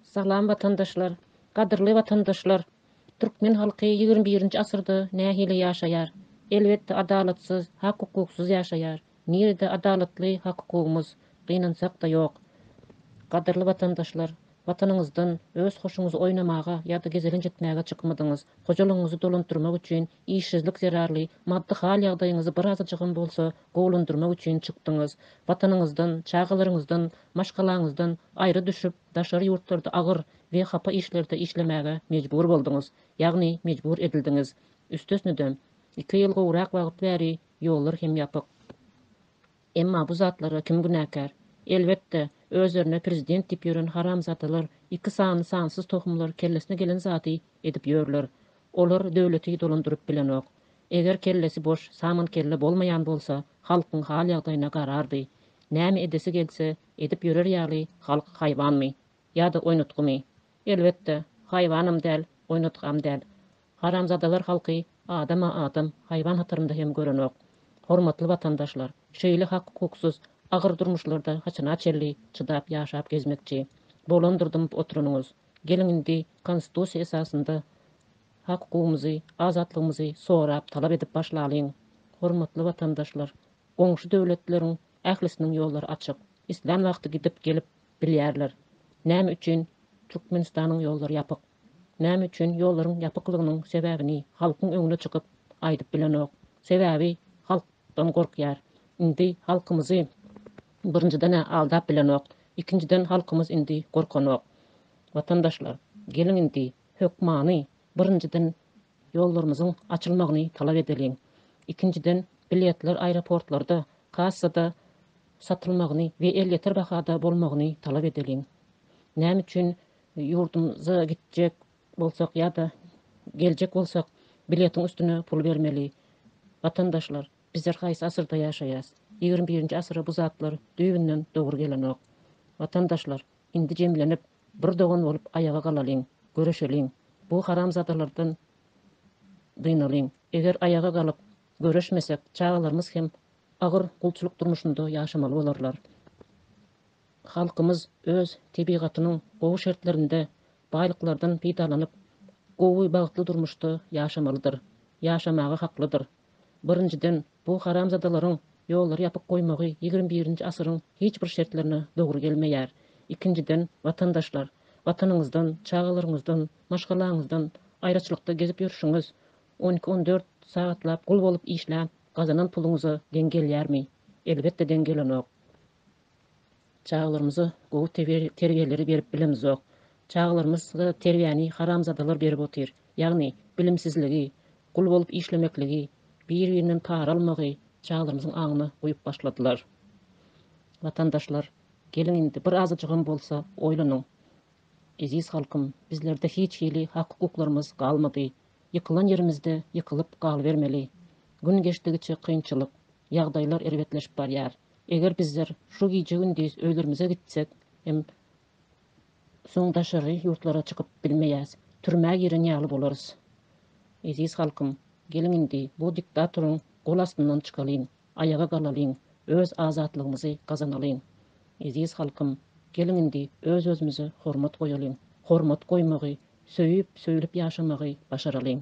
Salam watandaşlar! Gadyrly watandaşlar! Türkmen halky ýigrimi birinji asyrda nähili ýaşaýar? Elbetde adalatsyz, hak-hukuksyz ýaşaýar. Nirede adalatly hak-hukugymyz? Gynansak-da ýok. Gadyrly watandaşlar! Watanyňyzdan öz hoşuňyzy oýnamaga ýa-da gezelenç etmäge çykmadyňyz. Hojalygyňyzy dolandyrmak üçin işsizlik zerarly maddy hal-ýagdaýyňyzy birazajygam bolsa gowulandyrmak üçin çykdyňyz. Watanyňyzdan, çagalaryňyzdan Maşgalaňyzdan aýry düşüp, daşary ýurtlarda agyr we hapa işlerde işlemäge mejbur bolduňyz, ýagny mejbur edildiňiz. Üstesine-de, iki ýyl gowrak wagt bäri ýollar hem ýapyk. Emma bu zatlara kim günäkär? Elbetde, özlerine prezident diýip ýören haramzadalar, iki sany sansyz tohumlar kellesine gelen zady edip ýörler. Olar döwleti dolandyryp bilenok. Eger kellesi boş, saman kelle bolmaýan bolsa, halkyň hal-ýagdaýyna garardy. Näme edesi gelse, edip ýörer ýaly halk haýwanmy? Ýa-da oýnatgymy? Elbetde, haýwanam däl, oýnatgam däl. Haramzadalar halky adama adam, haýwan hatarynda hem görenok. Hormatly watandaşlar, şeýle hak-hukuksyz, agyr durmuşlarda haçana çenli çydap ýaşap gezmekçi? Bolandyr dymyp oturanyňyz. Geliň indi Konstitusiýa esasynda hak-hukugymyzy, azatlygymyzy sorap, talap edip başlalyň. Hormatly watandaşlar, Goňşy döwletleriň ählisiniň ýollary açyk. Islän wagty gidip gelip bilýärler. Näme üçin Türkmenistanyň ýollary ýapyk? Näme üçin ýollaryň ýapyklygynyň sebäbini halkyň öňüne çykyp aýdyp bilenok? Sebäbi halkdan gorkýar. Indi halkymyzy birinjiden-ä aldap bilenok. Ikinjiden halkymyz indi gorkanok. Watandaşlar, geliň indi hökmany Birinjiden, ýollarymyzyň açylmagyny talap edeliň. Ikinjiden, biletler aeroportlarda, kassada satylmagyny we elýeter bahada bolmagyny talap edeliň. Näme üçin ýurdumyza gitjek bolsak ýa-da geljek bolsak, biletiň üstüne pul bermeli? Watandaşlar, bizler haýsy asyrda ýaşaýas? Ýigrimi birinji asyra bu zatlar düýbünden dogry gelenok. Watandaşlar, Indi jemlenip, bir dogan bolup aýaga galalyň, göreşeliň, bu haramzadalardan dynalyň. Eger aýaga galyp, göreşmesek, çagalarymyz hem agyr gulçulyk durmuşynda ýaşamaly bolarlar. Halkymyz öz tebigatynyň gowy şertlerinde baýlyklardan peýdalanyp, gowy, bagtly durmuşda ýaşamalydyr, ýaşamaga haklydyr. Birinjiden, bu haramzadalaryň ýollary ýapyk goýmagy ýigrimi birinji asyryň hiç bir şertlerine dogry gelmeýär. Ikinjiden, watandaşlar, watanyňyzdan, çagalaryňyzdan, maşgalaňyzdan aýraçylykda gezip ýörşüňiz on iki, on dört sagatlap gul bolup işläp gazanan puluňyza deň gelýärmi? Elbetde deň gelenok. Çagalarymyza gowy terbiýeleri berip bilemizok. Çagalarymyza terbiýäni haramzadalar berip otyr. Ýagny, bilimsizligi, gul bolup işlemekligi, bir-birinden para almagy çagalarymyzyň aňyna guýup başladylar. Watandaşlar, geliň indi bir azajygam bolsa oýlanyň. Eziz halkym, bizlerde hiç hili hak-hukuklarymyz galmady. Ýykylan ýerimizde ýykylyp galybermeli. Gün geçdigiçe kynçylyk, ýagdaýlar erbetleşip barýar. Eger bizler şu gije-gündiz özlerimize gitsek hem soň daşary ýurtlara çykyp bilmeýäs, türmä giren ýaly bolarys. Eziz halkym, geliň indi bu diktatoryň gol astyndan çykalyň, aýaga galalyň, öz azatlygymyzy gazanalyň. Eziz halkym, geliň indi öz-özümize hormat goýalyň, hormat goýmagy, söýüp-söýülip ýaşamagy başaralyň.